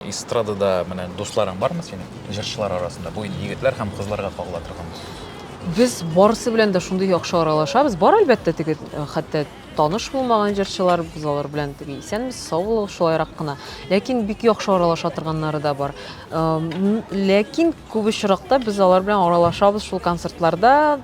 Эстрадада менә дусларың бармы синең, җырчылар арасында? Бу инде егетләр һәм кызларга кагыла торган. Без барысы белән дә шундый яхшы аралашабыз. Бар, әлбәттә, теге хәтта таныш булмаган җырчылар, без алар белән теге исәнмесез, сау булыгыз, шулайрак кына. Ләкин бик яхшы аралаша торганнары да бар. Ләкин күп очракта без алар белән аралашабыз шул концертларда.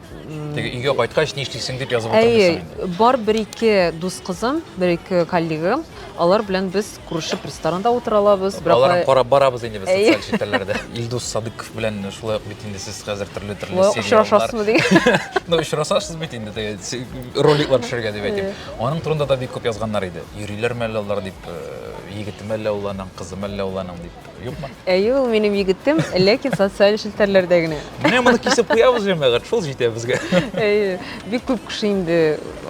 Теге өйгә кайткач, ни эшлисең дип язып утырмыйсың. Әйе, бар бер-ике дус кызым, бер-ике коллегам, алар белән без Күрешеп ресторанда утыра алабыз. Бер Аларны апай- карап барабыз инде без Әйе. социаль челтәрләрдә. Илдус Садыков белән шулай ук бит инде сез хәзер төрле төрле Шулай ук сериаллар. очрашасызмы дигән. Ну, очрашасыз бит инде теге се- роликлар төшергә дип әйтим. Аның турында да бик күп язганнар иде. Йөриләрме әллә алар дип, э, егетеме әллә ул аның, кызымы әллә ул аның дип. Юкмы? Әйе, ул минем егетем, ләкин социаль челтәрләрдә генә. Менә моны кисеп куябыз җәмәгать, шул җитә безгә. Әйе, бик күп кеше инде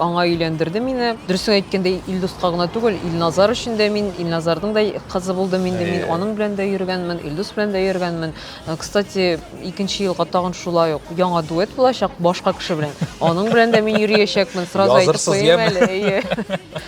аңа өйләндерде мине. Дөресен әйткәндә, Илдуска гына түгел, Илназар өчен дә мин, Илназарның да кызы булдым инде мин, аның белән дә йөргәнмен, Илдус белән дә йөргәнмен. Э, кстати, икенче елга тагын шулай ук яңа дуэт булачак башка кеше белән. Аның белән дә мин йөриячәкмен, сразу әйтеп куйыйм әле. Әйе.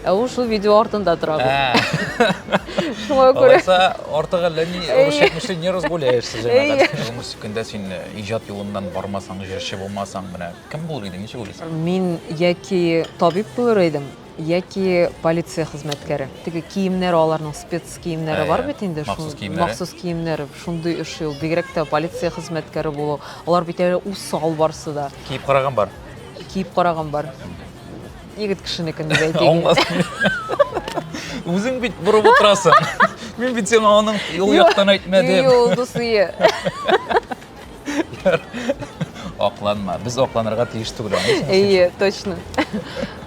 Ә ул шул видео артында тора бит. Ә. Шуңа күрә. Алайса, артык әллә ни русча не разгуляешься җәмәгать. Тормыш көндә син э, иҗат юлыннан бармасаң, җырчы булмасаң, менә кем булыр идең, ничек уйлыйсың? Мин яки табиб булыр идем, яки полиция хезмәткәре. Теге киемнәр аларның спец киемнәре бар бит инде, махсус киемнәре. Махсус киемнәре, шундый эш ул. Бигрәк тә полиция хезмәткәре булу. Алар бит әле усал барсы да. Киеп караган бар. Киеп караган бар. Егет кешенекен дип әйтик. Аңласаң. Үзең бит борып утырасың. Мин бит сиңа аның ул яктан әйтмәдем. Юл дусые. Акланма. Без акланырга тиеш түгел. Әйе, точно.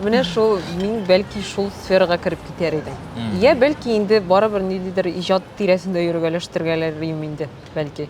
Менә шул мин бәлки шул сферага кереп китәр идем. Я бәлки инде барыбер ниндидер иҗат тирәсендә йөргәләштергәләр инде, бәлки.